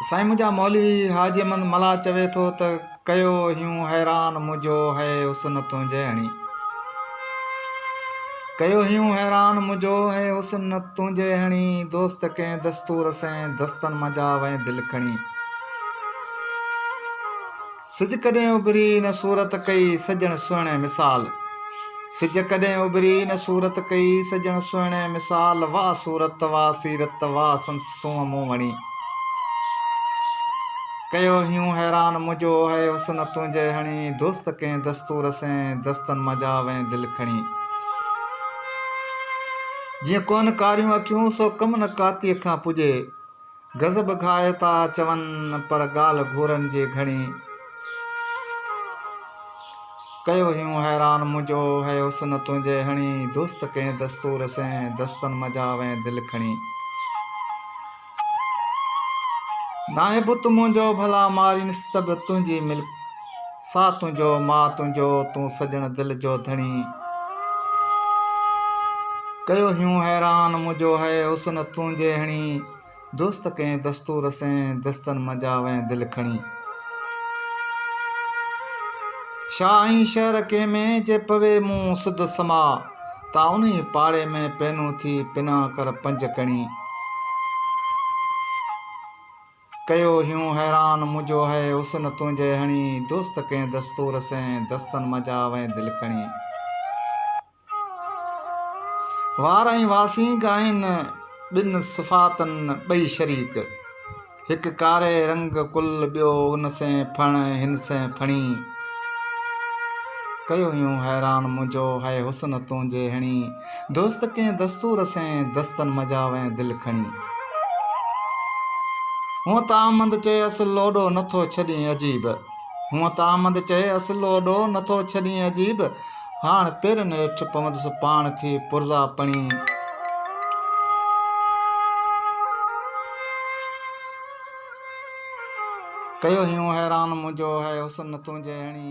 سائين منهنجا مولوي حاجي احمد ملاح چوي ٿو ته ڪيو هيون حيران منهنجو هئي حسن تنهنجهڙي ڪيو هيون حيران منهنجو هئي حسن تنهنجهڙي دوست ڪنهن دستور سين دستن منجهان وئي دل کڻي سج ڪڏهن اڀري نه صورت ڪئي سڄڻ سهڻي مثال سج ڪڏهن اڀري نه صورت ڪئي سڄڻ سهڻي مثال واھ صورت واھ سيرت واھ سندس سونهن مون وڻي ڪيو هيون حيران منهنجو هئي حسن تنهنجي هڻي دوست ڪنهن دستور سين دستن مجا وئين دل کڻي جيئن ڪون ڪاريون اکيون سو ڪم نه ڪاتيء کان پڄي غضب کائي ٿا چون پر ڳالهه گهورن جي گهڻي. ڪيو هيون حيران منهنجو هي حسن تنهنجي هڻي. دوست ڪنهن دستور سين دستن منجها وئين دل کڻي. ناهي بت منهنجو ڀلا مارينس ته به تنهنجي ملڪ. ساء تنهنجو ماء تنهنجو تون سڄڻ دل جو ڌڻي ڪيو هيون حيران منهنجو هئي حسن تنهنجي هڻي دوست ڪئين دستور سين دستن منجا وئين دل کڻي شاهه ۽ شهر ڪنهن ۾ جي پوي مون سڌ سما تا انهي پاڙي ۾ پينون ٿي پنا ڪر پنج ڪڻي ڪيو هيون حيران منهنجو هئي حسن تنهنجي هڻي دوست ڪنهن دستور سين دستن منجها وئين دل کڻي وار ۽ واسين ڳائين ٻن صفاتن ٻئي شريڪ هڪ ڪاري رنگ ڪل ٻيو ان سين ڦڻ هن سين ڦڻي ڪيو هيون حيران منهنجو هئي حسن تنهنجي هڻي دوست ڪنهن دستور سين، دستن مجاوين دل کڻي. هونء ته آمد چئي اصل لوڏو نه ٿو ڇڏين عجيب. هونء ته آمد چئي اصل لوڏو نه ٿو ڇڏين عجيب. هاڻ پيرن هيٺ پوندس پاڻ ٿي پرزا پڻي. ڪيو هيون حيران منهنجو هي حسن تنهنجي هڻي.